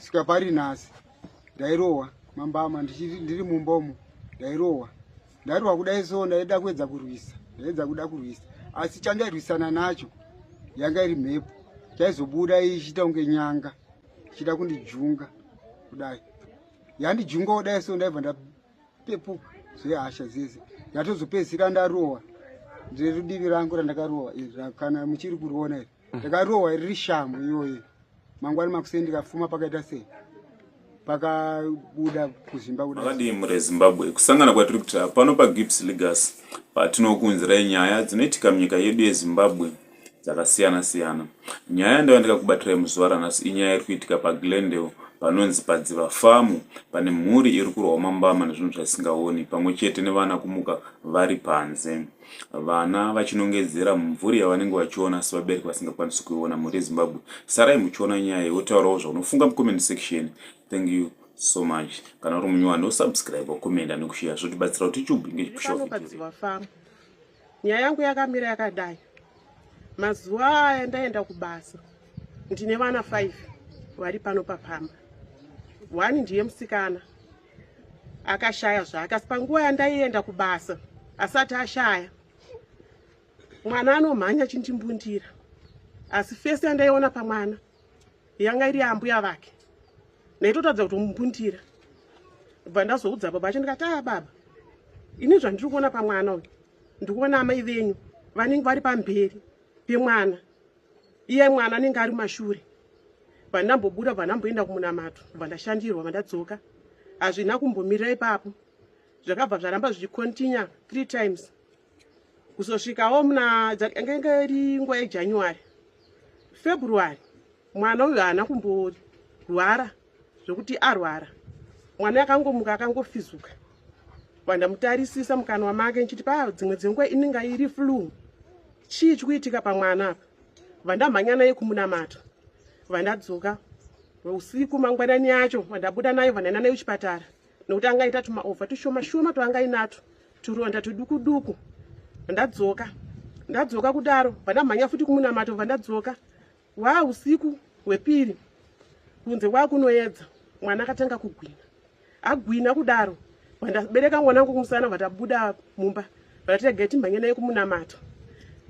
sika pari nhasi ndairohwa mambama ndiri mumba umo ndairohwa ndairohwa kudai so ndaida kuedza kurwisa ndaedza kuda kurwisa asi chandairwisana nacho yanga iri mhepo chaizobuda ichiita kunge nyanga ichida kundijunga kudai yandijunga kudai so ndaibva ndapepuka zvehasha dzese ndatozopedzisira ndarohwa ndiri rudivi rangu randakarohwa iri kana muchiri kuriona iri ndakarohwa riri shamhu iyoyi mangwani makuseni ndikafuma pakaita sei pakabuda kuzimba kudakadii murezimbabwe kusangana kwatiri kuita pano pagips legas patinokuunzirai nyaya dzinoitika munyika yedu yezimbabwe dzakasiyana siyana nyaya yandava ndikakubatirai muzuva ranhasi inyaya iri kuitika paglendale panonzi padziva famu pane mhuri iri kurwa umambama nezvinhu zvaisingaoni pamwe chete nevana kumuka vari panze vana vachinongedzera mumvuri yavanenge vachiona sevabereki vasingakwanisi kuiona mhuri yezimbabwe sarai muchiona nyaya yotaurawo zvaunofunga mucomment section thank you so much kana uri munyowani osubscribe wakomenda nekusheya zvotibatsira kuti tube ngezvipushoaa nyaya yangu yakamira yakadai mazuva aya ndaenda kubasa ndine vana 5 vari pano papamba one ndiye musikana akashaya zvake asi panguva yandaienda kubasa asati ashaya mwana anomhanya achindimbundira asi fesi yandaiona pamwana yanga iri yambuya vake ndaitotadza kutomumbundira bva ndazoudza baba acho ndikati aa ah, baba ini zvandiri kuona pamwana uyu ndikuona amai venyu vanenge vari pamberi pemwana iye mwana anenge ari mashure vandambobuda vandamboenda kumunamato vandashandirwa vandadzoka hazvina kumbomirira ipapo zvakabva zvaramba zvichicontinua three times kuzosvikawo muna angenge iri nguva yejanuary february mwana uyu haana kumborwara zvekuti arwara mwana akangomuka akangofizuka vandamutarisisa mukanwa make ndichiti pa dzimwe dzenguva inenge iri flu chii chikuitika pamwana apa vandamhanya naye kumunamata vandadzoka usiku mangwanani yacho vandabuda nayo vandaenda nayo chipatara nokuti anga aita tumaovha tushoma shoma twaanga inato turonda tuduku duku vandadzoka ndadzoka kudaro vandamhanya futi kumunamato vandadzoka Waa usiku hwepiri kunze kwaa kunoedza mwana akatanga kugwina agwina kudaro vandabereka mwana wangu kumusana vatabuda mumba vatatega timhanye naye kumunamata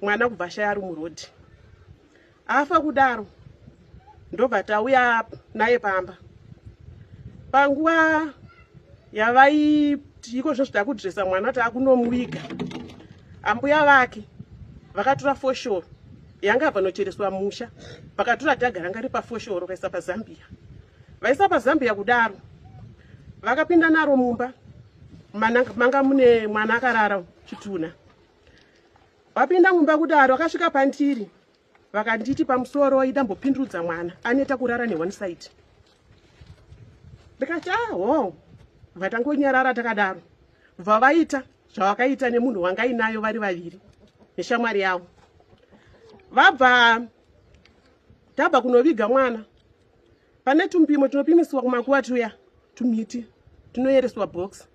mwana kubva shaya ari murodhi afa kudaro ndobva tauya naye pamba panguva yavaiti iko zvozvo takudresa mwana takunomuviga ambuya vake vakatura foshoro yanga vanochereswa musha vakatura dhaga ranga ri pafoshoro vaisa pazambiya vaisa pazambiya kudaro vakapinda naro mumba manga mune mwana akarara chitunha vapinda mumba kudaro akasvika pandiri vakanditi pamusoro ida mbopindurudza mwana aneta kurara ne one side ndikati aho vatangonyarara takadaro bva vaita zvavakaita nemunhu wangainayo vari vaviri neshamwari yavo vabva tabva kunoviga mwana pane tumpimo tunopimisiwa kumakuva tuya tumiti tunoyereswa box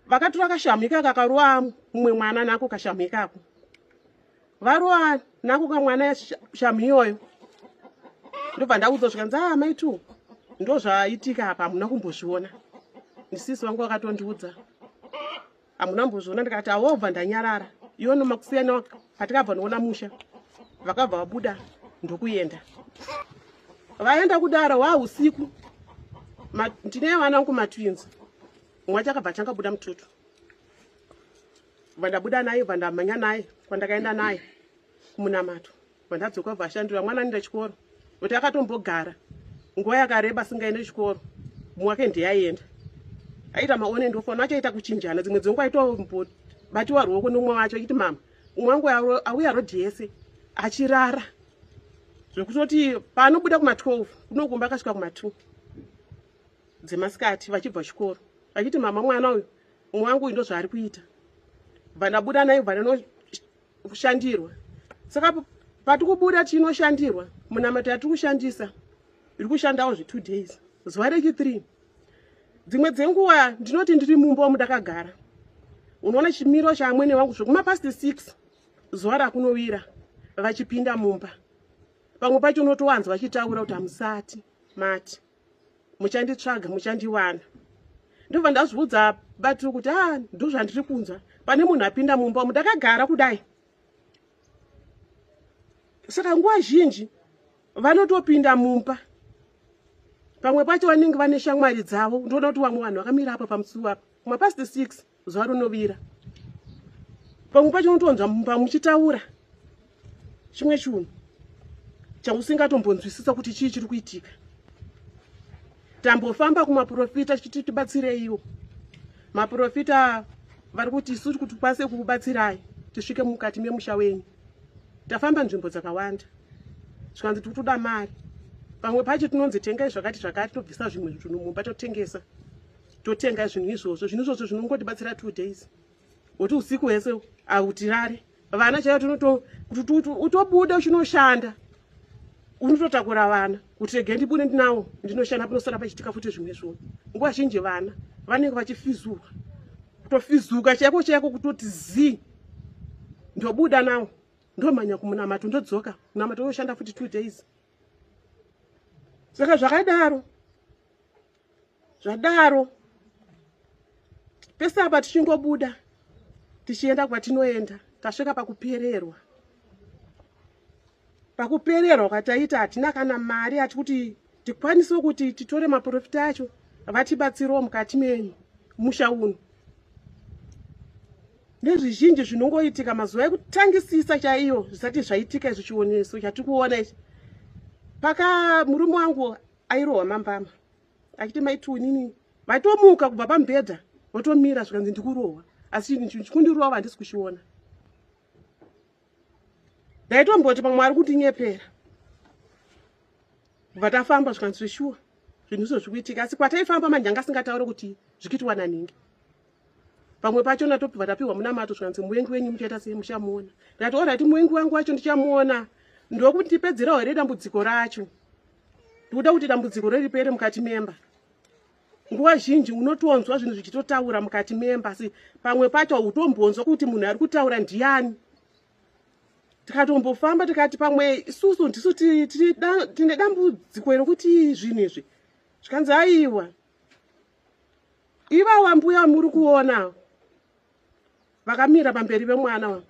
vakatura kashamu ikaka karowa mumwe mwana nako kashamu ikako varowa nako kamwana shamu iyoyo ndobva ndaudza zvikanzi a ah, mai two ndo zvaitika apa hamuna kumbozviona ndisisi vangu vakatondiudza hamuna mbozviona ndikati awobva ndanyarara iwo nomakusiyana patikabva noona musha vakabva vabuda ndokuenda vaenda kudara wa usiku ndine vana vangu matwins mumwe chakabva changa buda mututu vandabuda naye vandamhanya naye kwandakaenda naye kumunamato vandadzoka vashandira mwana nida chikoro kuti akatombogara nguva yakareba asingaende chikoro mumwe wake ndiye aienda aita maone ndofona achaita kuchinjana dzimwe dzenguva aitobatiwa ruoko nomwe wacho achiti mama umwe wangu auya rodhi yese achirara zvekutoti paanobuda kuma 12 kunokumba akasvika kuma 2 dzemasikati vachibva chikoro vachiti mama mwana uyu umwe wangu uyu ndozvaari kuita bva ndabuda naye bva kushandirwa saka pati kubuda chinoshandirwa munamata yatiri kushandisa iri kushandawo zve2 days zuva rechi3 dzimwe dzenguva ndinoti ndiri mumba wamudakagara unoona chimiro chaamwene vangu zvekumapast 6 zuva rakunovira vachipinda mumba pamwe pacho unotowanzwa vachitaura kuti hamusati mati muchanditsvaga muchandiwana ndobva ndazviudza batiri kuti a ah, ndozvandiri kunzwa pane munhu apinda mumba umu ndakagara kudai saka nguva zhinji vanotopinda mumba pamwe pacho vanenge vane shamwari dzavo ndinoda kuti vamwe vanhu vakamira apa pamusuwa mapast six zuva rinovira pamwe pacho unotonzwa mumba muchitaura chimwe chinhu chausingatombonzwisisa kuti chii chiri kuitika tambofamba kumaprofita chiti tibatsireiwo maprofita vari kuti isu kuti kwanise kukubatsirai tisvike mukati memusha wenyu tafamba nzvimbo dzakawanda zvikanzi tiri kutoda mari pamwe pacho tinonzi tengai zvakati zvakati tobvisa zvimwe zvinhu mumba totengesa totenga zvinhu izvozvo zvinhu izvozvo zvinongotibatsira two days woti usiku hwese autirare vana chaiyo tinotokuti utobuda uchinoshanda unototakura vana kuti rege ndibude ndinawo ndinoshanda panosara pachitika futi zvimwe zvoo nguva zhinji vana vanenge vachifizuka kutofizuka chaiko chaiko kutoti zii ndobuda nawo ndomhanya kumunamato ndodzoka munamato unoshanda futi two days saka zvakadaro zvadaro pese apa tichingobuda tichienda kwatinoenda tasvika pakupererwa pakupererwa kwataita hatina kana mari hati kuti tikwanise kuti titore maprofita acho vatibatsirewo mukati menyu musha uno nezvizhinji zvinongoitika mazuva ekutangisisa chaiyo zvisati zvaitika izvi chioneso chatiri kuona ichi paka murume wangu airohwa mambama achiti maitiunini vaitomuka kubva pamubhedha votomira zvikanzi ndikurohwa asi chikundirova handisi kuchiona ndaitomboti pamwe ari kundinyepera kubva tafamba zvikanzi zveshuwa zvinhu izvo zvikuitika asi kwataifamba manyanga asingataure kuti zvikiitwa naningi pamwe pacho natobva tapiwa munamato zvikanzi muvengi wenyu muchaita sei muchamuona ndati orati muvengi wangu wacho ndichamuona ndokuti ndipedzerawo here dambudziko racho ndikuda kuti dambudziko reripere mukati memba nguva zhinji unotonzwa zvinhu zvichitotaura mukati memba asi pamwe pacho hautombonzwa kuti munhu ari kutaura ndiyani tikatombofamba tikati pamwe isusu ndisu tine dambudziko rokuti zvinhu izvi zvikanzi aiwa ivawa mbuya muri kuona vakamira pamberi vemwana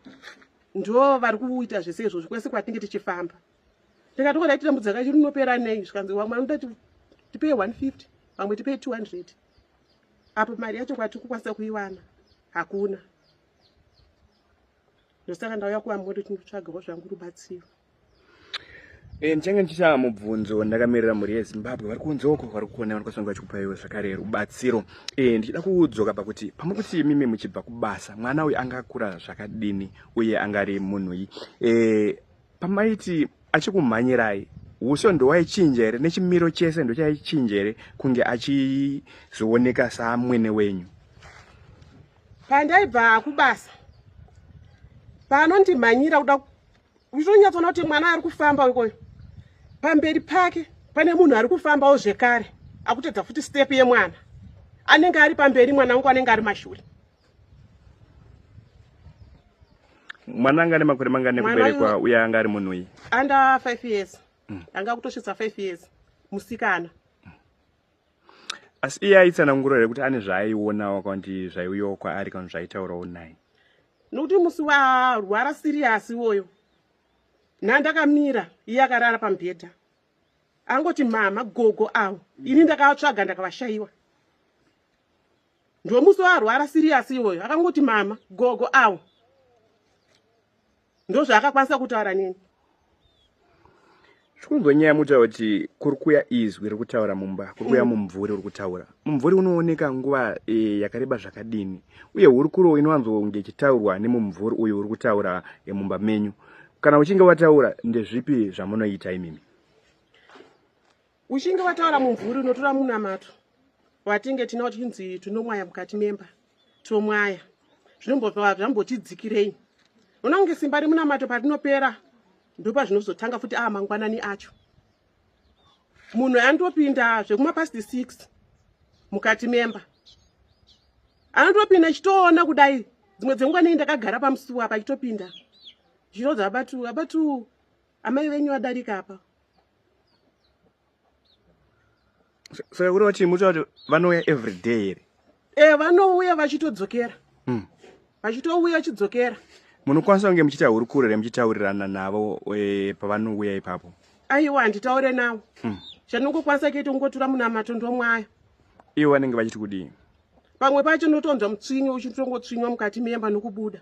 ndo vari kuita zvese izvozvo kwese kwatinge tichifamba ndikati ko ndaitambudza kacho rinopera nei zvikanzi vamwe vanoda tipei 150 vamwe tipei 200 apo mari yacho kwati kukwanisa kuiwana hakuna ndosaka ndauya kuvamoto tinotsvagawo zvangu rubatsiro eh, ndichange ndichichava mubvunzo ndakamirira mhuri yezimbabwe vari kunze uko vari kukona vanokwanisa kunge vachikupaiwa zvakare rubatsiro eh, ndichida kudzoka pakuti pamuri kuti imimi muchibva kubasa mwana uyu anga akura zvakadini uye anga ari munhui eh, pamaiti achikumhanyirai uso ndowaichinja here nechimiro chese ndochaichinja here kunge achizooneka samwene wenyu pandaibva kubasa panondimhanyira kuda uchitonyatsoona kuti mwana ari kufamba ikoyo pamberi pake pane munhu ari kufambawo zvekare akutedza futi step yemwana anenge ari pamberi mwana wangu anenge ari mashure mwana anga ane makore mangani ekuberekwa uye anga ari munhu uyi anda 5 years mm. anga kutosvitsa 5 years musikana mm. asi iye aitsanangura here kuti ane zvaaionawo kana kuti zvaiuyawo kwaari kana zvaitaurawo naye nokuti musi warwara siriyasi iwoyo nhandakamira iye akarara pamubhedha angoti mama gogo avo ini ndakavatsvaga ndakavashayiwa ndomusi waarwara serious iwoyo akangoti mama gogo awo ndozvaakakwanisa kutaura nini zvikunzwa nyaya mutaura kuti kuri kuya izwi riri kutaura mumba kuri kuya mm. mumvuri uri kutaura mumvuri unooneka nguva e, yakareba zvakadini uye hurukuro inowanzonge ichitaurwa nemumvuri uyu uri kutaura e, mumba menyu kana uchinge wataura ndezvipi zvamunoita imimi uchinge wataura mumvuri unotora munamato watinge tinawo tichinzi tinomwaya mukati memba tomwaya zvinomboa zvambotidzikirei ona kunge simba remunamato parinopera ndopazvinozotanga futi aa ah, mangwanani acho munhu anotopinda zvekumapasti six mukati memba anotopinda chitoona kudai dzimwe dzenguva nei ndakagara pamusuwa pachitopinda zvinodza abatu abatu Amai venyu vadarika apa. So yauri wati muti wati vanouya every day here? Eh vanouya vachitodzokera. Mm. Vachitouya vachidzokera. Munokwanisa kunge muchita hurukuro here muchitaurirana navo e, pavanouya ipapo? Aiwa handitaure navo. Mm. Chandingokwanisa kuita kungotura munamato ndomwayo. Ivo vanenge vachiti kudii? Pamwe pacho ndotonzwa mutswinyo uchitongotswinywa mukati memba nokubuda.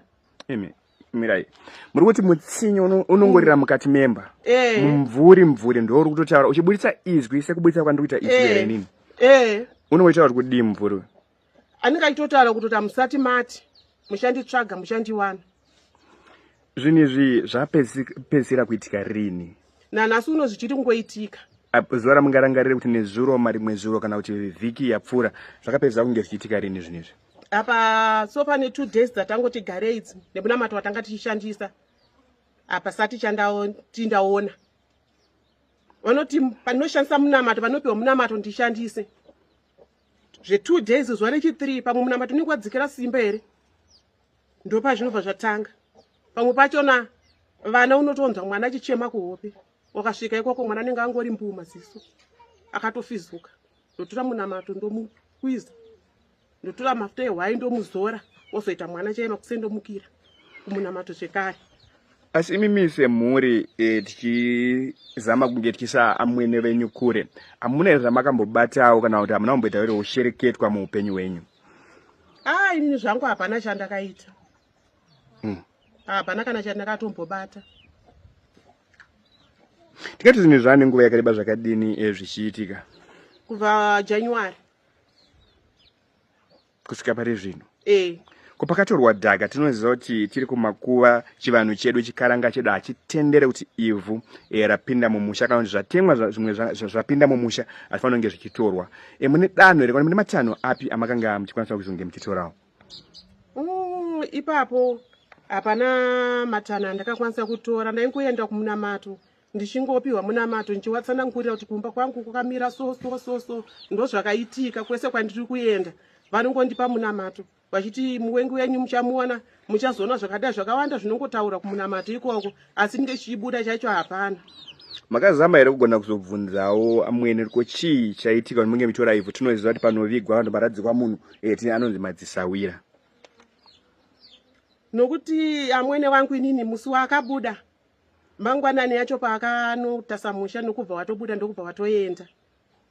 Amen. mirai muri kuti mutsinye unongorira mm. mukati memba eh. mumvuri mvuri ndo uri kutotaura uchiburitsa izwi sekuburitsa kwandiri kuita izwi here eh. inini eh. unongoitaura kuti kudii mumvuri uyu anenge achitotaura kutoti hamusati mati muchanditsvaga muchandiwana zvinhu izvi zvapedzisira kuitika rini nanhasi uno zvichiri kungoitika zuva ramungarangarire kuti nezuro marimwe zuro kana kuti vhiki yapfuura zvakapedzisa kunge zvichiitika rini zvinhu izvi apa so pane two days dzatangoti garei idzi nemunamato watanga tichishandisa apa sati chandatindaona vanoti panoshandisa munamato vanopiwa munamato ndishandise zvetwo days zuva rechithree pamwe munamato unenge wadzikira simba here ndopa zvinobva zvatanga pamwe pachona vana unotonzwa mwana achichema kuhope wakasvika ikoko mwana anenge angori mbuu maziso akatofizuka ndotora munamato ndomuiza ndotora mafuta ehwai ndomuzora ozoita mwana chaiva kusendomukira kumunamato zvekare asi imi mise mhuri e, tichizama kunge tichisa amwene venyu kure hamuna here zvamakambobatawo kana kuti hamuna kumboita here ushereketwa muupenyu hwenyu aa ah, inini zvangu hapana chandakaita hmm. hapana mm. kana chandakatombobata tingati zvinhu zvaane nguva yakareba zvakadini e, zvichiitika kubva january kusvika pari zvino eh. ko pakatorwa dhaka tinoziva kuti tiri kumakuva chivanhu chedu chikaranga chedu hachitendere kuti ivhu e, rapinda mumusha kana kuti zvatemwa zvimwe zvapinda mumusha hatifanira kunge zvichitorwa e, mune danho here kana mune matanho api amakanga muchikwanisa kuzonge muchitorawo mm, ipapo hapana matanho andakakwanisa kutora ndaingoenda kumunamato ndichingopiwa munamato ndichiwatsanangurira kuti kumba kwangu kukamira so so so so ndozvakaitika kwese kwandiri kuenda vanongondipa munamato vachiti muwengi wenyu muchamuona muchazoona zvakadai zvakawanda zvinongotaura kumunamato ikoko asi ndinge chichibuda chacho hapana makazama here kugona kuzobvunzawo amwene ko chii chaitika kuti munge mitora ivhu tinoziva kuti panovigwa vanhu varadzikwa munhu eti eh, anonzi madzisawira nokuti amwene wangu inini musi waakabuda mangwanani yacho paakanotasa musha nokubva watobuda ndokubva watoenda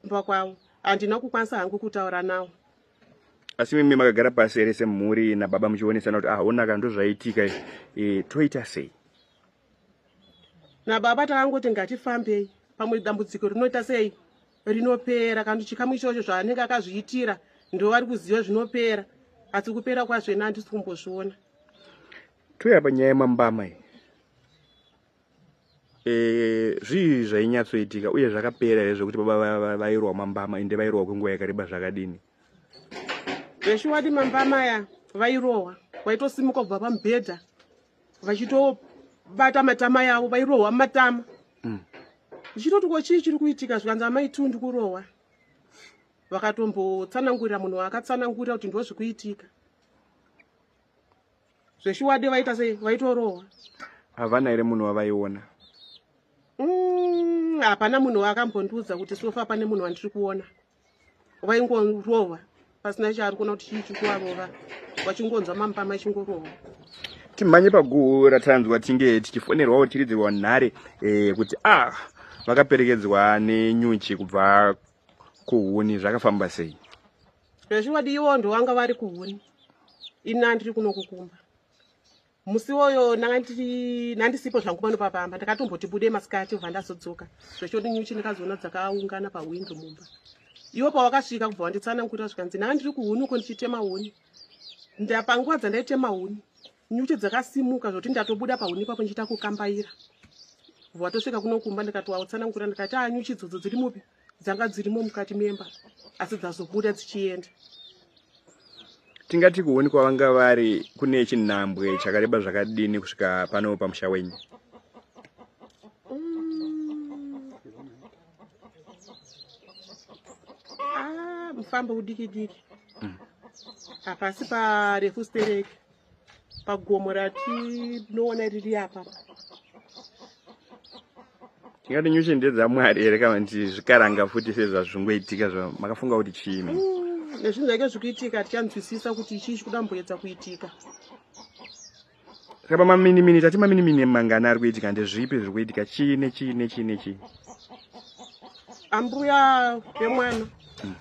kumba kwavo handina kukwanisa hangu kutaura nawo asi mimi makagara pasi ere semhuri nababa muchionesana kuti ahonaka ah, ndozvaitika e, eh, toita sei nababa takangoti ngatifambei pamwe dambudziko rinoita sei rinopera kana chikamu ichocho zvaanenge akazviitira ndovari kuziva zvinopera asi kupera kwazvena handisi kumbozviona Touya panyaya yemambama iyi. Eh, zvii zvainyatsoitika uye zvakapera here zvekuti baba vairwa mambama ende vairohwa kwenguva yakareba zvakadini zveshuwadi mambama aya vairohwa vaitosimuka kubva pamubhedha vachitobata matama yavo vairohwa matama mm. ndichitoti ko chii chiri kuitika zvikanzi amai tu ndikurohwa vakatombotsanangurira munhu waakatsanangurira kuti ndozvikuitika zveshuwadi vaita sei vaitorohwa havana here munhu wavaiona mm, hapana mm, munhu waakambondiudza kuti sofa pane munhu wandiri kuona vaingorohwa pasina chaari kuona kuti chii chikuvarova vachingonzwa mampa machingorohwa timhanye paguhu ratanzwa tinge tichifonerwawo tiridzirwa nhare eh, kuti a ah, vakaperekedzwa nenyuchi kubva kuhuni zvakafamba sei zvazviwadi iwo ndovanga vari kuhuni ini andiri kuno kukumba musi woyo nandisipo zvangu pano papamba ndakatomboti bude masikati obva ndazodzoka zvachoti nyuchi ndakazoona dzakaungana pahwindo mumba iwo pawakasvika kubva wanditsanangurira zvikanzi nanga ndiri kuhuni uko ndichitema huni ndapanguva dzandaitema huni nyuchi dzakasimuka zvokuti ndatobuda pahuni ipapo ndichiita kukambaira bva watosvika kuno kumba ndikati wautsanangurira ndikati anyuchi ah, dzodzo dziri mupi dzanga dzirimo mukati memba asi dzazobuda dzichienda tingati kuoni kwavanga vari kune chinhambwe chakareba zvakadini kusvika pano pamusha wenyu mm. ah, mufambo udiki diki mm. hapasi parefu stereki pagomo ratinoona riri apa tingati nyuchi ndedzamwari here kana kuti zvikaranga futi sezvazvingoitika zva makafunga kuti chii mm, nezvinhu zvaike zvikuitika tichanzwisisa kuti chii chikudamboedza kuitika saka pamaminimini tati maminimini mangani ari kuitika ndezvipi zviri kuitika chii nechii nechii nechii ambuya vemwana mm.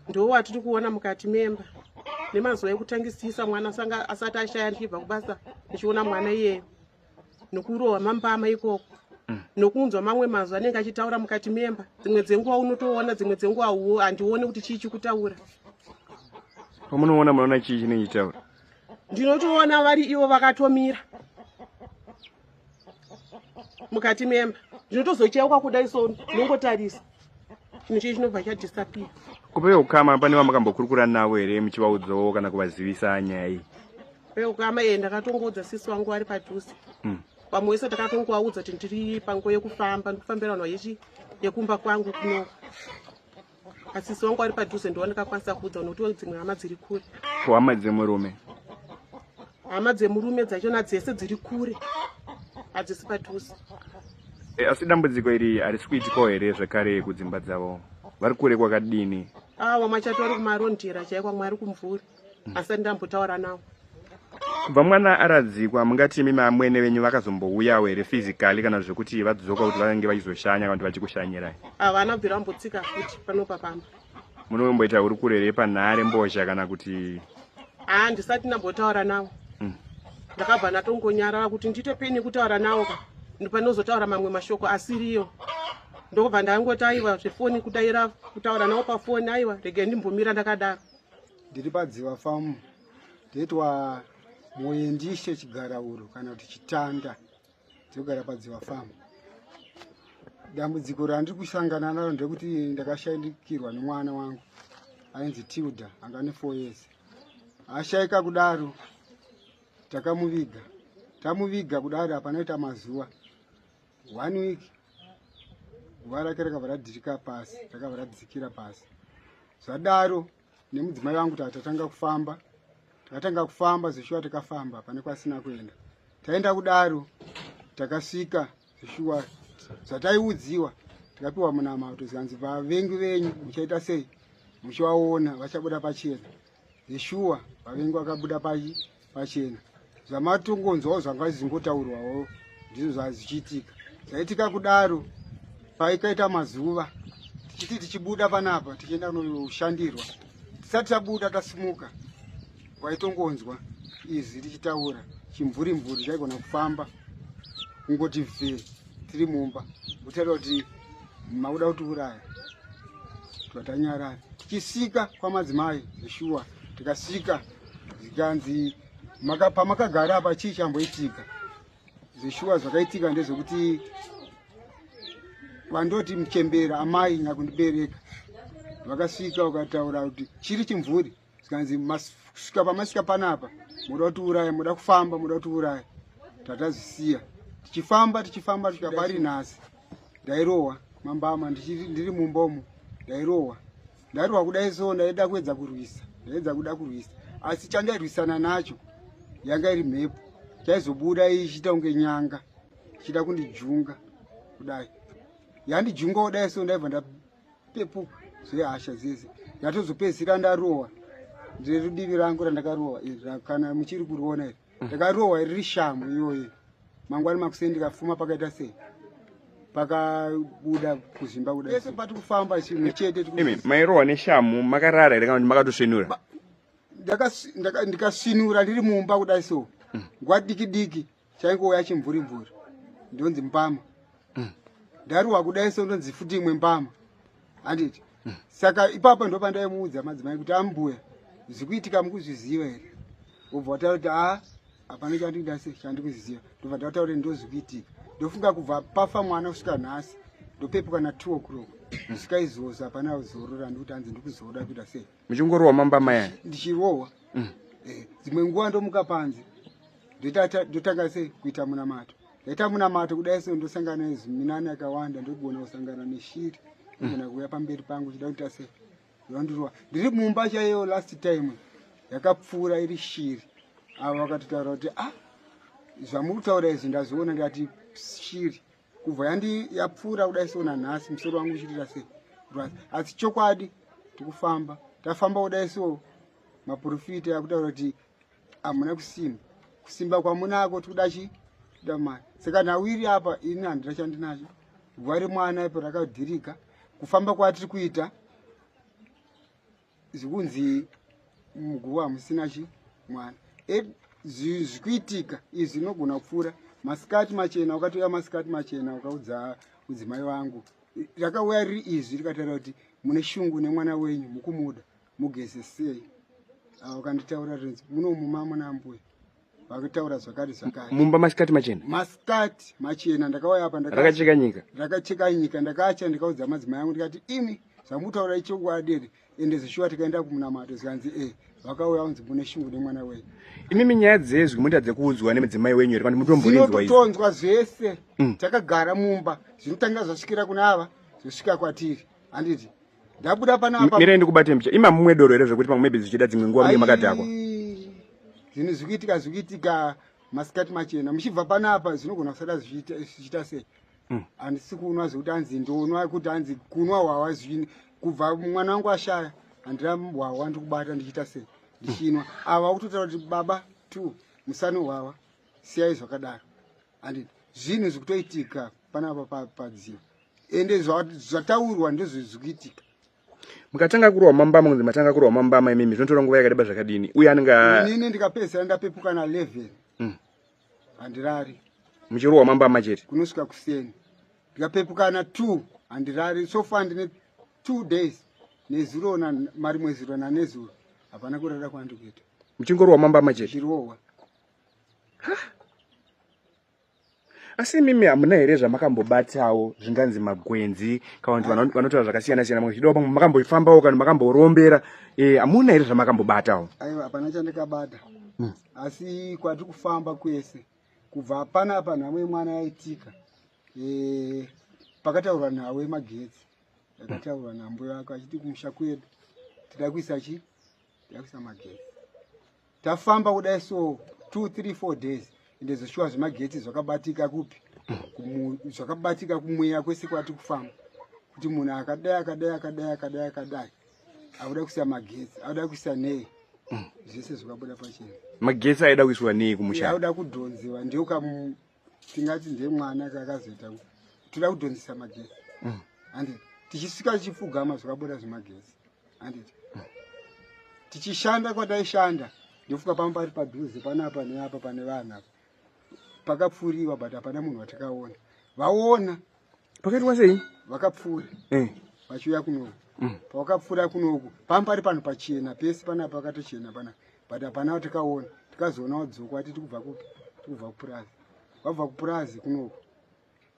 ndo watiri kuona mukati memba nemazuva ekutangisisa mwana sanga asati ashaya ndichibva kubasa ndichiona mwana iyeyo nokurohwa mambama ikoko mm. nokunzwa mamwe mazwi anenge achitaura mukati memba dzimwe dzenguva unotoona dzimwe dzenguva handione kuti chii chikutaura pamunoona munoona chii chinenge chitaura ndinotoona vari ivo vakatomira mukati memba ndinotozocheuka kuda iso ndinongotarisa chinhu chii chinobva chadisapia kupeya ukama pane vamakambokurukura navo here muchivaudzawo kana kuvazivisa nyaya iyi kupeya ukama ee ndakatongoudza sisi wangu vari padhuze hmm. vamwe wese takatongovaudza kuti ndiri panguva yekufamba ndikufambira vanhu yechi yekumba kwangu kuno asi sisi wangu ari padhuze ndowandikakwanisa kuudza unotiwo dzimwe hama dziri kure ko hama dzemurume hama dzemurume dzachona dzese dziri kure hadzisi padhuze e, asi dambudziko iri harisi kuitikawo here zvekare kudzimba dzavo vari kure kwakadini awa ah, machato ari kumarondera chaikwa mwari kumvuri asati ndambotaura nawo kubva mwana aradzikwa mungati imi mamwene venyu vakazombouyawo here physically kana zvekuti vadzoka kuti vange vachizoshanya kana kuti vachikushanyirai havana ah, bvira mbotsika futi panopa pamba munomboita hurukuro here panhare mbozha kana kuti haa ah, ndisati ndambotaura nawo hmm. ndakabva ndatongonyarara kuti ndiite peni kutaura nawo ka ndopanozotaura mamwe mashoko asiriyo ndokubva ndangoti aiwa zvefoni kudaira kutaura nawo pafoni aiwa rege ndimbomira ndakadaro ndiri padziva famu ndoitwa moyendishe chigarauro kana kuti chitanda ndinogara padziva famu dambudziko randiri kusangana naro ndekuti ndakashaikirwa nemwana wangu ainzi tilda anga ne four years ashaika kudaro takamuviga tamuviga kudaro hapanoita mazuva one week guva rake rakabva radhirika pasi rakabva radzikira pasi zvadaro nemudzimai vangu kuti hatatanga kufamba takatanga kufamba zeshuwa takafamba pane kwasina kuenda taenda kudaro takasvika zeshuwa zvataiudziwa tikapiwa munamato zvikanzi vavengi venyu muchaita sei muchivaona vachabuda pachena Yeshua vavengi vakabuda pachena zvamatongonzwawo zvanga zvizingotaurwawo ndizvo zvazichiitika zvaitika kudaro paikaita mazuva tichiti tichibuda panapa tichienda kunoshandirwa tisati tabuda tasimuka waitongonzwa izwi richitaura chimvuri mvuri chaigona kufamba kungoti vhee tiri mumba uchataura kuti makuda kutiuraya twatanyarara tichisvika kwamadzimai zveshuwa tikasvika zvikanzi pamakagara apa chii chamboitika zveshuwa zvakaitika ndezvekuti vandoti muchembera amai nyakundibereka vakasvika vakataura kuti chiri chimvuri zvikanzi kusvika pamasvika panapa moda kuti uraya moda kufamba moda kuti uraya tatazvisiya tichifamba tichifamba kusvika pari nhasi ndairohwa mambama ndiri mumbomo ndairohwa ndairohwa kudai so ndaida kuedza kurwisa ndaedza kuda kurwisa asi chandairwisana nacho yanga iri mhepo chaizobuda ichiita kunge nyanga ichiita kundijunga kudai yandijunga kudai so ndaibva pepu zvehasha dzese ndatozopedzisira ndarohwa ndirudivi rangu randakarohwa iri kana muchiri kuriona iri mm. ndakarohwa riri shamu iyoyi mangwani makuseni ndikafuma pakaita sei pakabuda kuzimba kuda ese pati kufamba chimwe chete imi mairohwa neshamu makarara here kana kuti makatosvinura ndikasvinura ndiri mumba kudai so mm. nguva diki diki chaingouya chimvuri mvuri ndonzi mbama mm. ndaruwa kudai so ndonzi futi imwe mbama handiti mm. saka ipapo ndo pandaimuudza madzimai kuti ambuya zvikuitika mukuzviziva here obva wataura kuti a hapana chandingidase chandikuziziva ndobva ndataura kuti ndozvikuitika ndofunga kubva pafa mwana kusvika nhasi ndopepuka na two o'clock mm. svika izvozvo hapana zorora ndikuti hanzi ndikuzooda kuita sei muchingorohwa mamba maya ndichirohwa mm. eh, dzimwe nguva ndomuka panze ndotanga sei kuita munamato ndaita munamato kudai so ndosangana neziminani yakawanda ndogona kusangana neshiri ndogona mm. kuuya pamberi pangu chida kuita sei yondirova ndiri mumba chaiyo last time yakapfuura iri shiri avo vakatotaura kuti ah zvamuri kutaura izvi ndazviona ndikati shiri kubva yandi yapfuura kudai so nanhasi musoro wangu uchiitira sei asi chokwadi tikufamba tafamba kudai so maprofita akutaura kuti hamuna kusimba kusimba kwamunako tikuda chi tikuda mari saka nawiri apa ini handina chandinacho gwari mwana ipo rakadhirika kufamba kwatiri kuita zvikunzi muguva hamusina chi mwana e, zvikuitika izvi zvinogona kupfuura masikati machena ukatoya masikati machena ukaudza mudzimai vangu rakauya riri izvi rikataura kuti mune shungu nemwana wenyu mukumuda mugeze sei ah, ukanditaura rinzi muno mumamuna mbuya vakutaura zvakare zvakare mumba masikati machena masikati machena ndakauya apa rakacheka nyika rakacheka nyika ndakacha ndikaudza madzimai angu ndikati imi zvamutaura ichokwadi here ende zvishuwa tikaenda kumunamato zvikanzi e vakauya unzi mune shungu nemwana wenyu imimi nyaya dzezwi moita dzekuudzwa nemadzimai wenyu here kana mutomborinzwainototonzwa zvese mm. takagara mumba zvinotanga zvasvikira kuna ava zvosvika kwatiri handiti ndabuda pana apa mire ndikubate mbicha ima mumwe doro here zvekuti pamwe maybe zvichida dzimwe nguva mune makadhakwa zvinhu zvikuitika zvikuitika masikati machena muchibva pana apa zvinogona kusada zvichiita sei mm. handisi kunwa zvekuti hanzi ndonwa kuti hanzi kunwa hwahwa zvini kubva mwana wangu ashaya handina hwahwa ndikubata ndichiita sei ndichinwa ava kutotaura kuti baba two musano hwahwa siyai zvakadaro and zvinhu zvikutoitika panapa padziro ende zvataurwa ndozvizvikuitika mukatanga kurwa mambama kunzi matanga kurwa mambama imimi zvinotora nguva yakadeba zvakadini uye anenge inini ndikapedzisira ndapepuka na 11 mm. handirari muchirwa mambama chete kunosvika kuseni ndikapepuka na 2 handirari so far ndine 2 days nezuro na mari mwezuro na nezuro hapana kurara kwandikuita muchingorwa mambama chete chirowa asi imimi hamuna here zvamakambobatawo zvinganzi magwenzi kana kuti vanotaura zvakasiyana siyana muzvidawo pamwe makamboifambawo kana makamborombera eh, hamuna here zvamakambobatawo aiwa hapana chandikabata hmm. asi kwatiri kufamba kwese kubva pana apa nhamo yemwana yaitika eh, pakataurwa nhau yemagetsi yakataurwa nambo yako achiti kumusha kwedu tida kuisa chi yakuisa magetsi tafamba kudai so 2 3 4 days ende zvoshuwa zvemagetsi zvakabatika kupi zvakabatika kumweya kwese kwati kufamba kuti munhu akadai akadai akadai akadai akadai akuda kuisa magetsi akuda kuisa nei zvese zvakabuda pachena magetsi aida kuiswa nei kumusha akuda kudhonzewa ndioka tingati ndemwana kakazoita toda kudhonzisa magezi mm. andi tichisvika tichipfugama zvakabuda zvemagezi andi mm. tichishanda kwataishanda ndofuka pamba pari padhuze panapa neapa pane vanhu apa pakapfuriwa but hapana munhu watakaona vaona pakaitwa sei vakapfuura eh. vachiuya kunoku mm. pavakapfuura kunoku panga pari panhu pachena pese panaa pakatochena pana but hapana takaona tikazoona wadzoko ati tikubva kupi tikubva kupurazi wabva kupurazi kunoku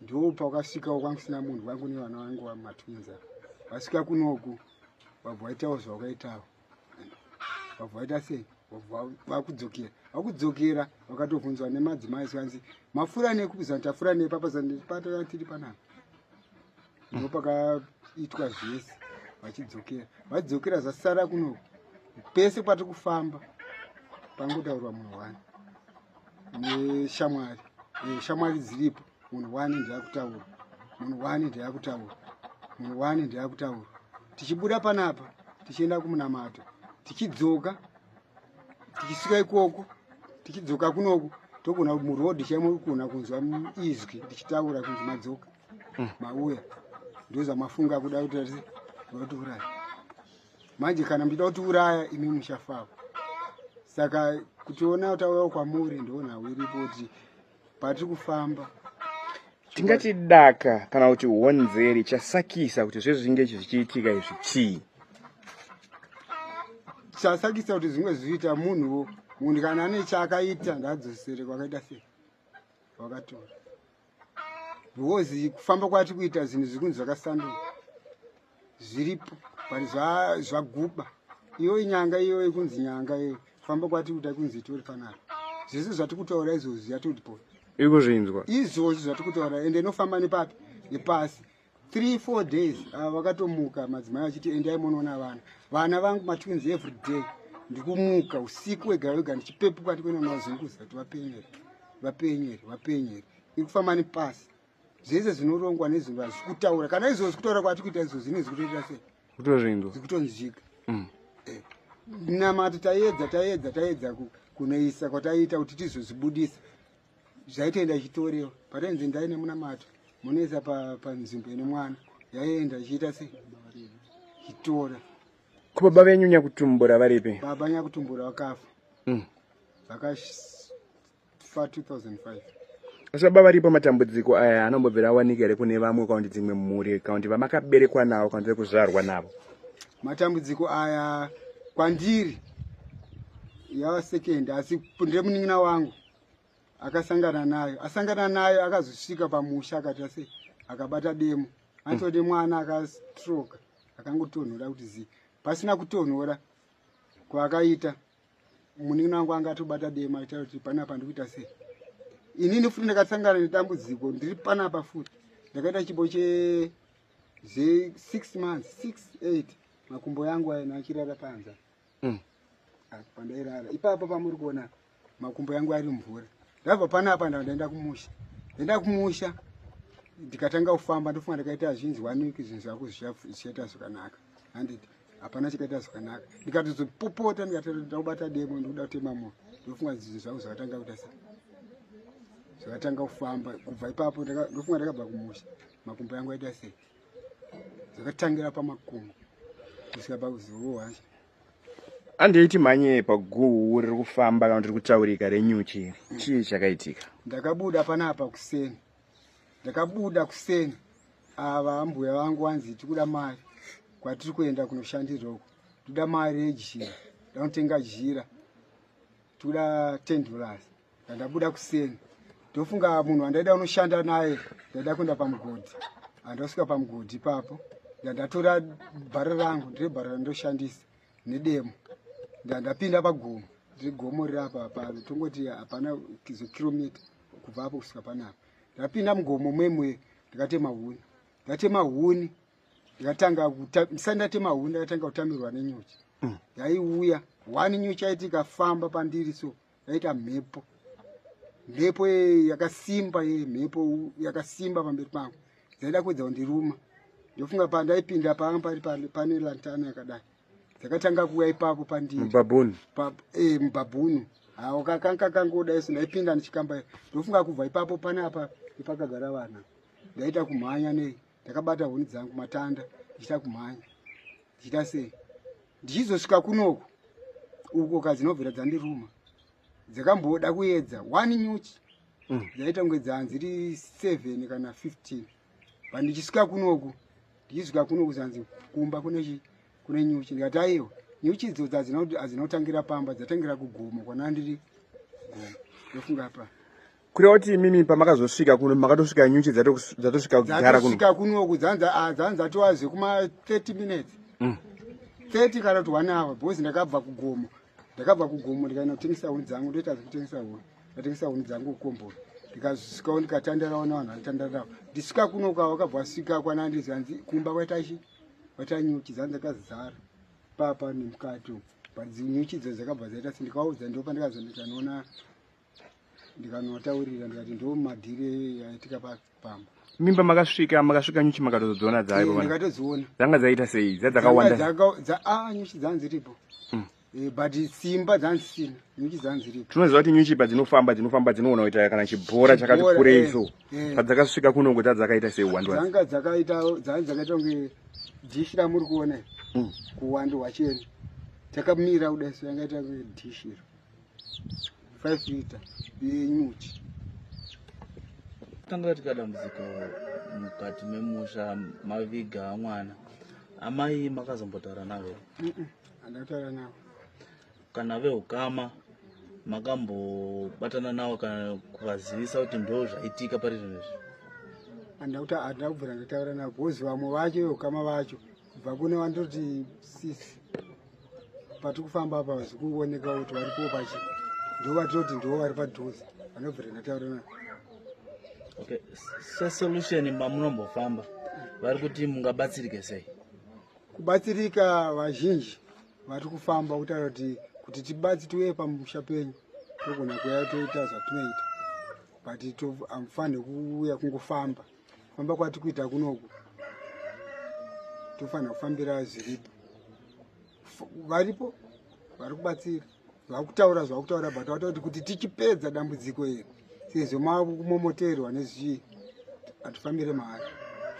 ndo pawakasvikawo kwanga kusina munhu wangu nevana vangu vamatwinza vasvika kunoku vabva waitawo zvawakaitawo vabva vaita sei vakudzokera vakudzokera vakatobvunzwa nemadzimai sikanzi mafura nei kubizana tafura nei papazanpatara tiri panapa ndipo pakaitwa zvese vachidzokera vadzokera zvasara kuno pese patiri kufamba pangotaurwa munhu wani neshamwari eh, shamwari dziripo munhu wani ndiyakutaura munhu wani ndiyakutaura munhu wani ndiyakutaura tichibuda panapa tichienda kumunamato tichidzoka tichisvika ikoko tichidzoka kunoku togona kuti muroad chaimo kugona kunzwa izwi tichitaura kunzi madzoka hmm. mauya ndozamafunga kuda kuti ati vatiuraya manje kana muchida kuti uraya imi muchafava saka kutiona tauyawo kwamuri ndoona hwiripo kuti patiri kufamba tingati daka kana kuti honzeri chasakisa kuti zvezvinge izvi zvichiitika izvi chii chasakisa kuti zvimwe zvichiita munhuwo munhu kana ane chaakaita ngaadzosere kwakaita sei kwakatora because kufamba kwati kuita zvinhu zvikunzi zvakasanduka zviripo but zvaguba iyoyi nyanga iyoyi kunzi nyanga iyoyi famba kwati kuda kunzi itori fanaro zvese zvati kutaura izvozvi yatodipo ikuzvinzwa izvozvi zvati kutaura ende inofamba nepapi nepasi three four days ah, vakatomuka uh, madzimai vachiti endai monoona vana vana vangu matwins every day ndikumuka usiku wega wega ndichipepuka ndikunoona zvinhu kuzati vapenyeri vapenyeri vapenyeri ikufamba nepasi zvese zvinorongwa nezvinhu hazvisi kutaura kana izvozvi kutaura kwati kuita izvozvi ine zvikutoita sei kutoringo zvikutonzvika mm. eh, namato taiedza taiedza taiedza kunoisa kwataiita kuti tizozvibudisa zvaitoenda ichitorewa patainzi ndai nemunamato munoisa panzvimbo ine mwana yaienda ichiita sei ichitora ko baba venyu nyakutumbura varipi baba nyakutumbura vakafa mm. fa 2005 asi baba varipo matambudziko aya anombobvira awanika here kune vamwe kaundi dzimwe mhuri kaundi vamakaberekwa navo kaundi vekuzvarwa navo matambudziko aya kwandiri yava second asi ndemunin'ina wangu akasangana nayo asangana nayo akazosvika pamusha akati ase akabata demo anotode mm. mwana akastroka akangotonhora kuti zii pasina kutonhora kwaakaita munin'ina wangu anga atobata dema aita kuti panapa ndikuita sei inini futi ndakasangana nedambudziko ndiri panapa futi ndakaita chipo che zve six months six eight makumbo yangu aina achirara panza mm. ah, pandairara ipapo pamuri kuona makumbo yangu ari mvura ndabva panapa ndaenda kumusha ndaenda kumusha ndikatanga kufamba ndofunga ndakaita zvinzi one week zvinhu zvako zvichaita zvakanaka handiti hapana chikaita zvakanaka ndikatozopopota ndikatoda kubata demo ndikuda kutema moyo ndofunga zvinhu zvangu zvakatanga kuita sei zvakatanga kufamba kubva ipapo ndofunga ndakabva kumusha makumbo yangu aita sei zvakatangira pamakumbo kusvika pakuzivo wacho handei timhanye paguhu riri kufamba kana kuti riri kutaurika renyuchi chii chakaitika ndakabuda panapa kuseni ndakabuda kuseni ava ambuya vangu vanzi tikuda mari kwatiri kuenda kunoshandira uko tikuda mari yejira ndanotenga jira tikuda ten dollars ndandabuda kuseni ndofunga munhu wandaida unoshanda naye ndaida kuenda pamugodhi andasvika pamugodhi ipapo ndandatora bhara rangu ndire bhara randoshandisa nedemo ndandapinda pagomo ndiri gomo riri apa pano tongoti hapana zikiromita kubva apo kusvika panapa ndapinda mugomo mwemwe ndikatema huni ndatema huni ndikatanga misai ndatema huni ndakatanga kutamirwa nenyuchi mm. yaiuya mm. wani nyuchi yaiti ikafamba pandiri so yaita mhepo mhepo yakasimba ye mhepo yakasimba pamberi pangu dzaida kuedza kundiruma ndofunga pandaipinda panga pari pane lantana yakadai dzakatanga kuuya ipapo pandimubabhunu eh, mubabhunu hawo kakanga kangoda isu ndaipinda ndichikamba ndofunga kubva ipapo pane apa ipakagara vana ndaita kumhanya nei ndakabata huni dzangu matanda ndichita kumhanya ndichita sei ndichizosvika kunoku uko kadzinobvira dzandiruma dzakamboda kuedza one nyuchi mm. dzaita kunge dzanzi ri seven kana fifteen but ndichisvika kunoku ndichisvika kunoku zanzi kumba kune kune nyuchi ndikati aiwa nyuchi idzo dzadzinotangira pamba dzatangira kugomo kwanandiri gomo ndofunga paa kureva kuti imimi pamakazosvika kuno makatosvika nyuchi dzatosvika kugara kunosvika kuno kudzanza ah, dzanza tova zvekuma 30 minutes 30 mm. kana kuti one hour because ndakabva kugomo ndakabva kugomo ndikaenda kutengesa huni dzangu ndoita zvekutengesa huni ndatengesa huni dzangu kukombora ndikasvikawo ndikatandarawo navanhu vanotandarawo ndisvika kuno kwa wakabva wasvika kwana ndizi hanzi kumba kwatachi kwata nyuchi dzanza kazara papa nemukati uku but nyuchi dzo dzakabva dzaita sendikaudza ndopa ndikazondikanoona ndikanotaurira ndikati ndo madhiri yaitika pamba mimba makasvika makasvika nyuchi makatozodziona dzaipo eh, ndakatodziona dzanga dzaita sei dzadzakawanda dza a ah, nyuchi dzanga dziripo mm. eh, but simba dzanga dzisina nyuchi dzanga dziripo tinoziva kuti nyuchi padzinofamba dzinofamba dzinoona kuita kana chibhora chakati kurei eh, so padzakasvika kunongo dzadzakaita sei uwandu dzanga dzakaita dzanga dzakaita kunge dhishi ramuri kuona mm. kuwandu hwacheni takamira kudai so yangaita kunge dhishi iro 5 liter yenyuchi tanga tika dambudziko mukati memusha maviga mwana amai makazombotaura navo here handataura navo kana veukama makambobatana navo kana kuvazivisa kuti ndo zvaitika pari zvinhu izvi handauta handakubvira ndataura navo bhozi vamwe vacho veukama vacho kubva kune vandoti sisi patiri kufamba apa zvikungooneka kuti vari kuwo pachi ndo vatiroti ndiwo vari padhuze vanobvira ndataura na okay sesolution mamunombofamba vari kuti mungabatsirike sei kubatsirika vazhinji vari kufamba kutaura kuti kuti tibatsi tiuye pamusha penyu togona kuya toita zvatinoita but amfanire kuuya kungofamba kufamba kwati kuita kunoku tofanira kufambira zviripo varipo vari kubatsira vakutaura zvakutaura but vatakuti kuti tichipedza dambudziko iri sezvo makumomoterwa nezvii hatifambire mahari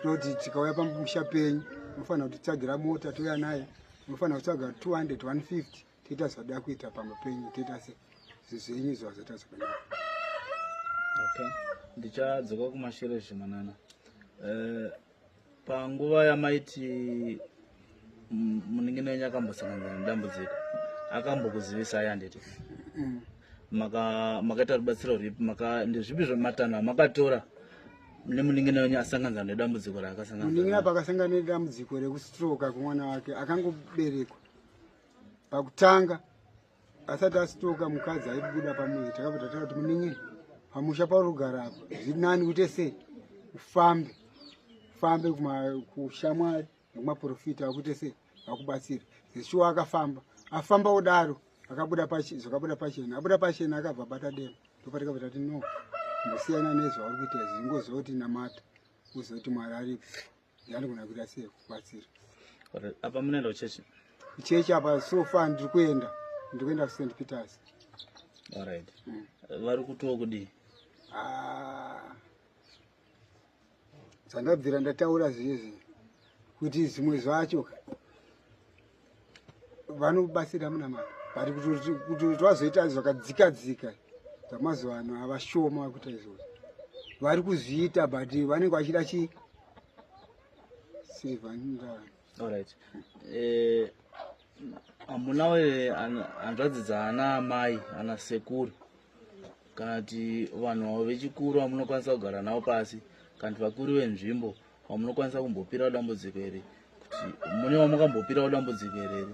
tinoti tikauya pamusha penyu unofanira kutitsagira mota touya naye unofanira kutsvaga 200 150 toita zvadoda kuita pamba penyu toita se zvenyu izvo hazvaita zvakanaka okay ndichadzoka kumashure zvimanana uh, eh, panguva yamaiti muningino wenyu akambosangana nedambudziko akambokuzivisai handiti mm. makaita rubatsiro rwipi ndezvipi zvematanho amakatora nemuningina wenyu asangana nedambudziko raakasanganmuningina pakasangana nedambudziko rekustroka kwemwana wake akangoberekwa pakutanga asati asitoka mukadzi aibuda pamuzi takabva tataura kuti muningi pamusha pauri kugara apo zviri nani kuite sei ufambe ufambe kushamwari nekumaprofita akuite sei akubatsira zeshuwa akafamba afamba kudaro akabuda zvakabuda pachena abuda pachena akabva bata dema ndopatikabva tati no ndosiyana nezvauri kuita izvi ingozoti namata uzoti mwari aripo Ndandigona kuita sei kubatsira. Apa munoenda kuchechi? Kuchechi apa so far ndiri kuenda. Ndiri kuenda kuSt Peters. All right. Mm. Vari kutiwo kudii? Ah. Sandabvira ndataura zviye zviye kuti zvimwe zvacho vanobatsira munamata but kuti twazoita zvakadzika dzika zvamazuva ano havashoma vakuita izvozvo vari kuzviita but vanenge vachida chi silvandaallright eh, hamunawo here hanzvadzi dzaana amai ana sekuru kana kuti vanhu vavo vechikuru vamunokwanisa kugara navo pasi kana kuti vakuru venzvimbo wamunokwanisa kumbopirawo dambudziko here kuti mune wamukambopirawo dambudziko here here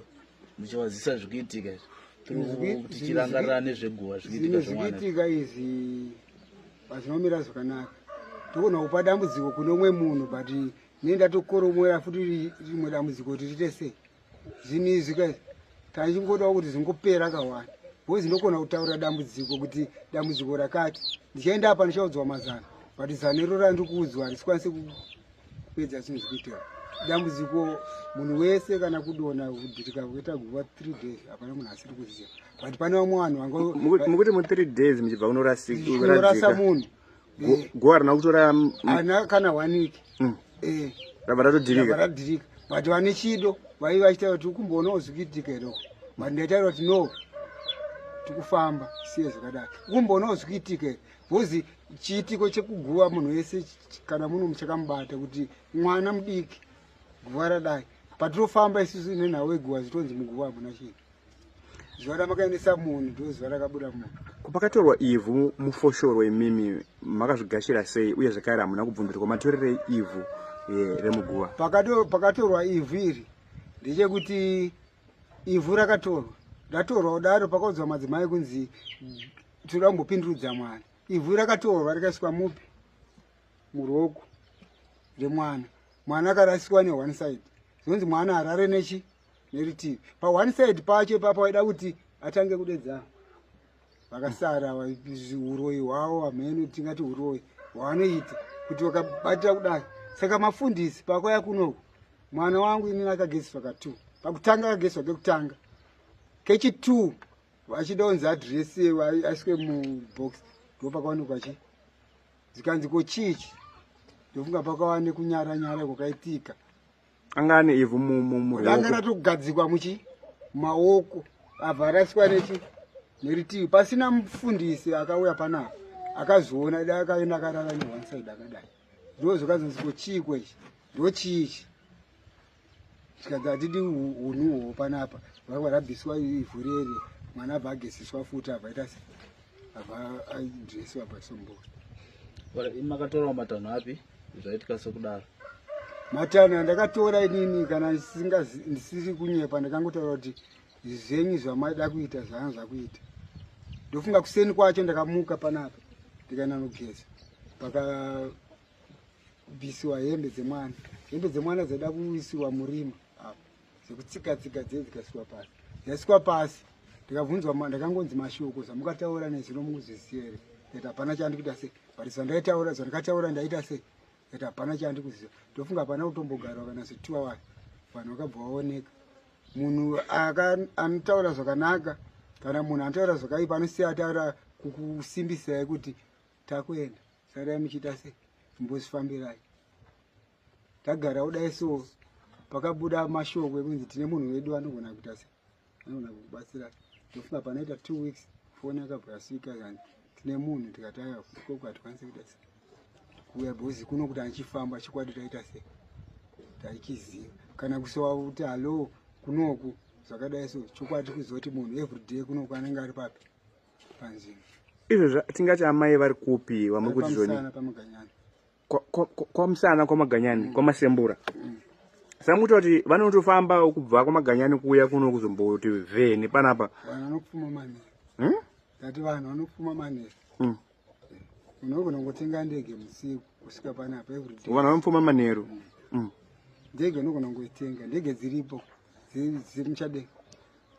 muchivazisa zvikuitika izvi tichirangarira nezveguva zvikuitika izvi pazvinomira zvakanaka togona kupa dambudziko kune umwe munhu but ne ndatokoromoera futi rimwe dambudziko kuti tiite sei zvinhu izvi ka taichingoda kuti zvingopera kawani bhozi ndokona kutaura dambudziko kuti dambudziko rakati ndichaenda apa ndichaudzwa mazano but zano iro randiri kuudzwa harisikwanise kupedza zvinhu zvikuitira dambudziko munhu wese kana kudona kudhirika kuita guva three days hapana munhu asiri kuziva but pane vamwe vanhu vangomukuti mu three days muchibva kunorasa munhu guva harina kutora ana kana one week mm. eh. rava ratodhirika radhirika but vane chido vaive vachitaura kuti ukumboona ozvikiitika here uko but ndaitaura kuti no tikufamba siye zvakadaro ukumboona ozvikiitika here bcause chiitiko chekuguva munhu wese kana munhu muchakamubata kuti mwana mudiki guva radai patirofamba isusu nenhau yeguva zvitonzi muguva hamuna chinhu zuva ramakaendesa munhu ndo zuva rakabuda munhu pakatorwa ivhu mufoshoro imimi makazvigashira sei uye zvakare hamuna kubvunzirwa matorerei ivhu eh, remuguva pakatorwa ivhu iri ndechekuti ivhu rakatorwa ratorwa kudaro pakaudzwa madzimai kunzi tiri kambopindurudza mwana ivhu rakatorwa rikaiswa mupi muruoko remwana mwana akarasiswa ne one side zvinonzi mwana harare nechi neritivi pa one side pacho ipapa waida kuti atange kudedzana vakasara uroyi hwavo hameno tingati uroyi hwavanoita kuti vakabatira kudai saka mafundisi pakwaya kunoku mwana wangu inini akageseswa ka two pakutanga akageseswa kekutanga kechi two vachida unzi adress aiswe mubox ndopakaonekwa chi zikanzi ko chichi ndofunga pakava nekunyara nyara kwakaitika anga ane ivhu mumuanga ratogadzikwa muchi maoko abva araswa nechi neritivi pasina mufundisi akauya panapa akazoona da akaenda akarara ne one side akadai ndozokazonzi ko chii kwechi ndo chii ichi zvikanzi hatidi unhuhwo panapa vakwa rabviswa ivhu rere mwana abva agesiswa futi abva aita se abva adresiwa pasombori makatorawo matanho api zvaitika sokudaro matana ndakatora inini kana ndisiri kunyepa ndakangotaura kuti zvenyu zvamaida kuita zvanga zvakuita ndofunga kuseni kwacho ndakamuka panapa ndikaenda nogeza pakabisiwa hembe dzemwana hembe dzemwana dzaida kuisiwa murima dzekutsika tsika dzee dzikasikwa pasi dzasikwa pasi ndikabvunzwa ndakangonzi mashoko zvamukataura nezvino mukuzviziva here that hapana chandi kuita sei but zvandaitaura zvandikataura ndaita sei that hapana chandi kuziva ndofunga hapana kutombogarwa kana zvituwa wani vanhu vakabva vaoneka munhu anotaura zvakanaka kana munhu anotaura zvakaipa anosiya ataura kukusimbisai kuti takuenda sarai muchiita sei imbozvifambirai tagara kudai so pakabuda mashoko ekunzi tine munhu wedu anogona kuita se anogona kukubatsira ndofunga panoita two weeks foni yakabva yasvika kani tine munhu tikati aya koko hatikwanisi kuita se kuuya bhozi kuno kuti andichifamba chikwadi taita se taichiziva kana kusowa kuti hallo kunoku zvakadai so chokwadi kuzoti munhu everyday kunoku anenge ari papi panzvimbo izvo tingati amai vari kupi vamuri kuti zvoni pamuganyana kwamusana kwamaganyani mm. kwamasembura mm. samuti vati vanotofamba kubva kwamaganyani kuuya kuno kuzomboti vheni panapa vanhu vanopfuma manera hmm? ndati vanhu vanopfuma manera hmm. unogona kungotenga ndege musiku kusvika panapa everyday vanhu vanopfuma manheru hmm. ndege unogona kungoitenga ndege dziripo dziri muchadeka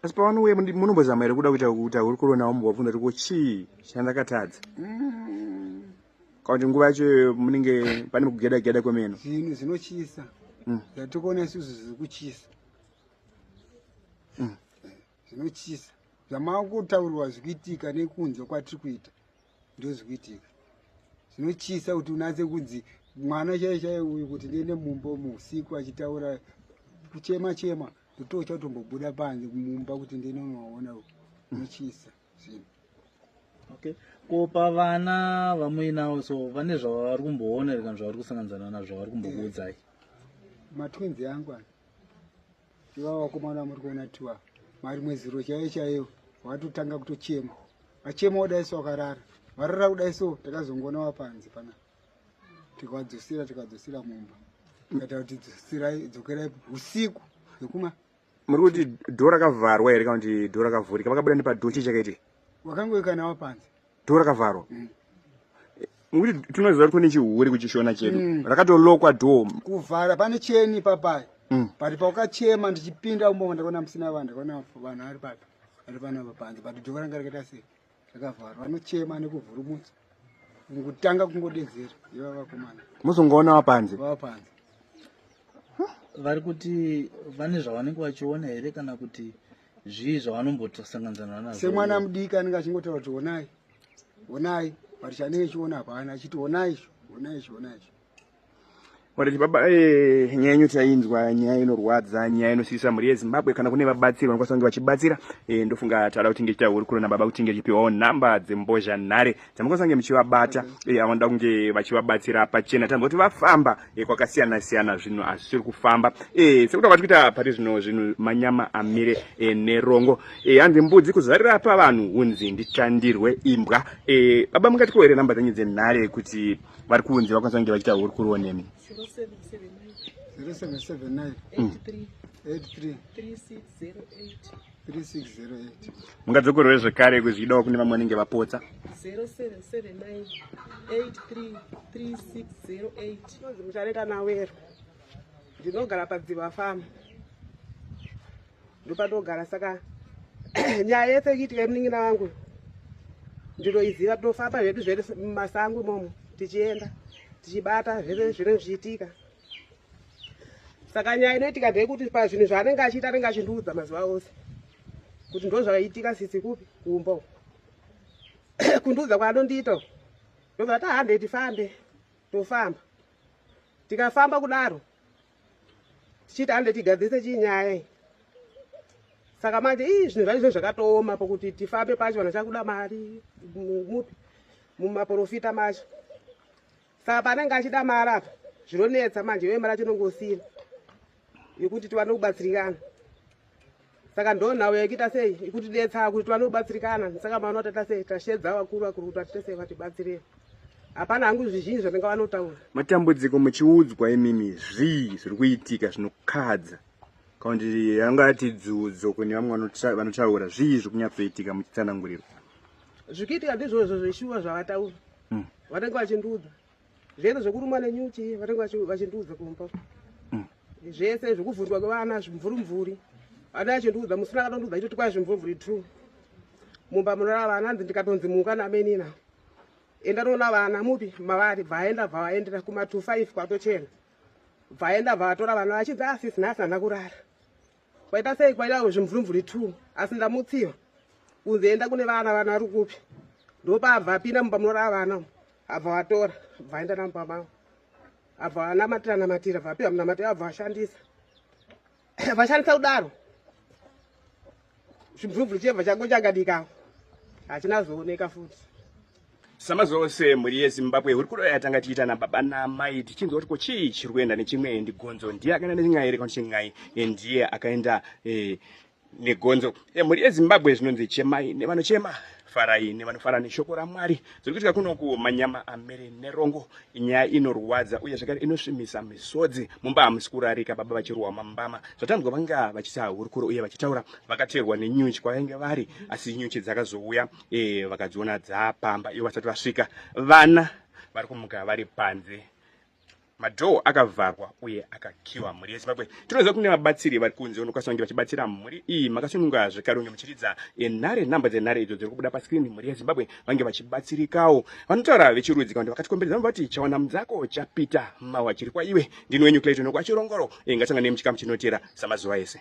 asi pavanouya munombozama here kuda kuita kuti ahuri kuronawo mubvabvunza kuti ko chii chandakatadza kana kuti nguva yacho iyoyo munenge pane kugeda geda kwemene zvinhu zvinotyisa Mm. zvatikuona isusu zviri kutyisa Mm. zvinotyisa zvamava kutaurirwa zvikuitika nekunzwa kwatiri kuita ndozvikuitika zvinotyisa kuti unatse kunzi mwana chaiye chaiye uyu kuti ndiende mumba umu usiku achitaura kuchema chema ndototya kutombobuda panze mumba kuti ndiende unovaona uyu zvinotyisa zvinhu okay ko pavana vamuinawo so vane zvavari kumboona here kana zvavari kusanganzana nazvo zvavari kumbokuudzai matwins yangu ani ivava vakomana vamuri kuona tiwa mari mweziro chaiyo chaiyo vatotanga kutochema vachema kudai so vakarara varara kudai so takazongoona vapanze pana tikavadzosera tikadzosera mumba kaita kuti dzokerai usiku hwekuma muri kuti dho rakavharwa here kana kuti dho rakavhurika vakabuda nepadho chii chakaiti wakangoika nawo panze dho rakavharwa mm. muri kuti tinoziva kuti kune chihure kuchishona chedu mm. rakatolokwa dho kuvhara pane cheni papai mm. but paukachema ndichipinda umboo ndakaona musina vanhu ndakaona vanhu ari papi ari panapa panze but dho ranga rakaita sei zvakavharwa vanochema nekuvhurumutsa kutanga kungodedzera iva vakomana muzongoona vapanze vapanze vari kuti vane zvavanenge vachiona here kana kuti zvii zvavanombosanganidzana nazvo semwana mudiki anenge achingotaura kuti honai honai but chanenge chiona hapana achiti honai izvo honai izvo honai izvo Wariti baba eh, nyaya yenyu tainzwa nyaya inorwadza nyaya inosiisa mhuri yezimbabwe kana kune vabatsiri vanokwanisa kunge vachibatsira eh, ndofunga tada kuti tinge tiita hurukuro nababa kuti tinge tichipiwawo nhamba dzembozha nhare dzamukwanisa kunge muchivabata eh, avanoda kunge vachivabatsira pachena tanzwa kuti vafamba eh, kwakasiyana siyana zvinhu hazvisiri kufamba eh, sekuti kwati kuita pari zvino zvinhu manyama amire eh, nerongo eh, hanzi mbudzi kuzarira pavanhu hunzi nditandirwe imbwa eh, baba mungatikohere nhamba dzenyu dzenhare kuti vari kunzi vakwanisa kunge vachiita hurukuro nemi mungadzokorowe zvekare kuzvidawo kune vamwe vanenge vapotsa 0779833608 ndinogara padziva famu ndopatogara saka nyaya yese ichiitika yemunin'ina wangu ndinoiziva tinofamba zvedu zvese mumasango imomo tichienda tichibata zvese zvine zvichiitika saka nyaya inoitika ndeyekuti pazvinhu zvaanenge achiita anenge achindiudza mazuva ose kuti ndo zvaiitika sisi kupi kumbo kundiudza kwaanondiita ndobva ta hande tifambe tofamba tikafamba kudaro tichiti hande tigadzirise chii nyaya iyi saka manje ii zvinhu zvacho zvinhu zvakatooma pokuti tifambe pacho vanhu chakuda mari mupi mumaprofita macho saka panenge achida mari apa zvinonetsa manje iwe mari acho inongosina yekuti tiwane kubatsirikana saka ndonhau yaikuita sei ikutidetsa kuti tiwane kubatsirikana saka maona kuti atasei tashedza vakuru vakuru kuti vatitesei vatibatsirei hapana hangu zvizhinji zvatinga vanotaura matambudziko muchiudzwa imimi zvii zviri kuitika zvinokadza kaundi yanga ati dzudzo kune vamwe vanotaura zvii zviri kunyatsoitika muchitsanangurirwa zvikuitika ndizvozvo zveshuwa zvavataura hmm. vanenge vachindiudza Zvese zvekurumwa nenyuchi vatanga vachindiudza kumba. Mm. Zvese zvekuvhurwa kwevana zvimvuri mvuri. Ana achindiudza musina akatondiudza chitoti kwai zvimvuri mvuri true. Mumba munorara vana hanzi ndikatonzi muka namenina. Enda toona vana mupi mavari bvaenda bvaendera kuma 25 kwatochena. Bvaenda bvatora vana vachidza asisi nhasi hana kurara. Kwaita sei kwaita zvimvurumvuri two asi ndamutsiva kunzi enda kune vana vana vari kupi ndopabva apinda mumba munorava vana abva watora bva aenda namumba mavo abva anamatira namatira bva apiwa munamatira abva vashandisa vashandisa kudaro zvimvurumvuri chebva chango chakadikawo hachina zooneka futi samazuva ose mhuri yezimbabwe hurukuro yatanga tiita nababa naamai tichinzwa kuti ko chii chiri kuenda nechimwe ndigonzo ndiye akaenda nechin'ai here kanoti chin'ai eh, ndiye akaenda eh, negonzo eh, mhuri yezimbabwe zvinonzi chemai nevanochema farai nevanofara neshoko ramwari zviri kuitika kunoku manyama amere nerongo nyaya inorwadza uye zvakare inosvimisa misodzi mumba hamusi kurarika baba vachirohwa mambama zvatanzwa vanga vachisa hurukuro uye vachitaura vakateerwa nenyuchi kwavainge vari asi nyuchi dzakazouya e, vakadziona dzapamba ivo vasati vasvika vana vari kumuka vari panze madhoo akavharwa uye akakiwa mhuri yezimbabwe tinoziva kune vabatsiri vari kunze unokwanisa kunge vachibatsira mhuri iyi makasununga zvekare unge muchiridza nare namba dzenare idzo dziri kubuda paskrini mhuri yezimbabwe vange vachibatsirikawo vanotaura vechirudzi kakuti vakatikomberedza vati chawana mudzako chapita mawa chiri kwaiwe ndini wenyu clayton okwa chirongoro ingasanga nemuchikamu chinotera samazuva ese